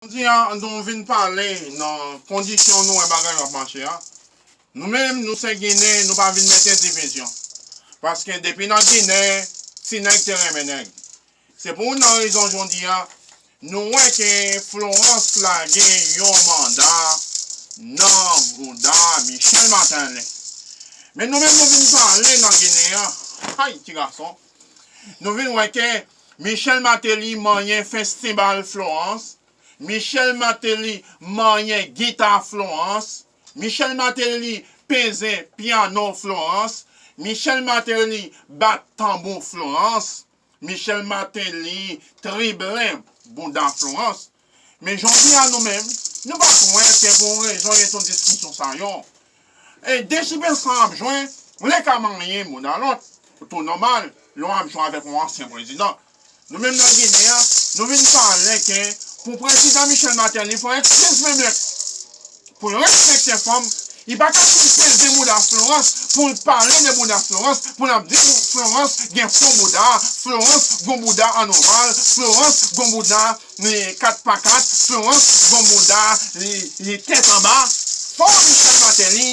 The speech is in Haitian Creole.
Jodi a, nou vin pale nan kondisyon nou wè bagay yo ap mache a. Nou menm, nou se Ginen, nou pa vin mete divizyon. Paske depi nan Ginen, ti nèg te renmen nèg. Se pou youn nan rezon jodi a, nou wè ke Florence lage yon manda nan bouda Michel Martelly. Men nou menm nou vin pale nan Ginen an, hay ti gason! Nou vin wè ke Michel Martelly manyen festival Florence, Michel Martelly manyen gita Florence, Michel Martelly peze piano Florence, Michel Martelly bat tanbou Florence, Michel Martelly triblen bouda Florence. Men jodi a nou menm, nou pa t wè ke pou yon rezon gen tout diskisyon sa yo. E dechimen sa ap jwe, li ka marye moun a lòt, tou nòmal, lè w ap jwe avèk yon ansyen prezidan. Nou menm nan Ginen an, nou vin pale ke pou prezidan Michel Martelly pran ekskiz menm lè. Florence chrétien fanm li pa ka fin peze mouda Florence poul pale de mouda Florence poul ap di Florence gen fon mouda Florence gon mouda an oval Florence gon mouda li 4 pa 4 Florence gon mouda li tèt anba fò Michel Martelly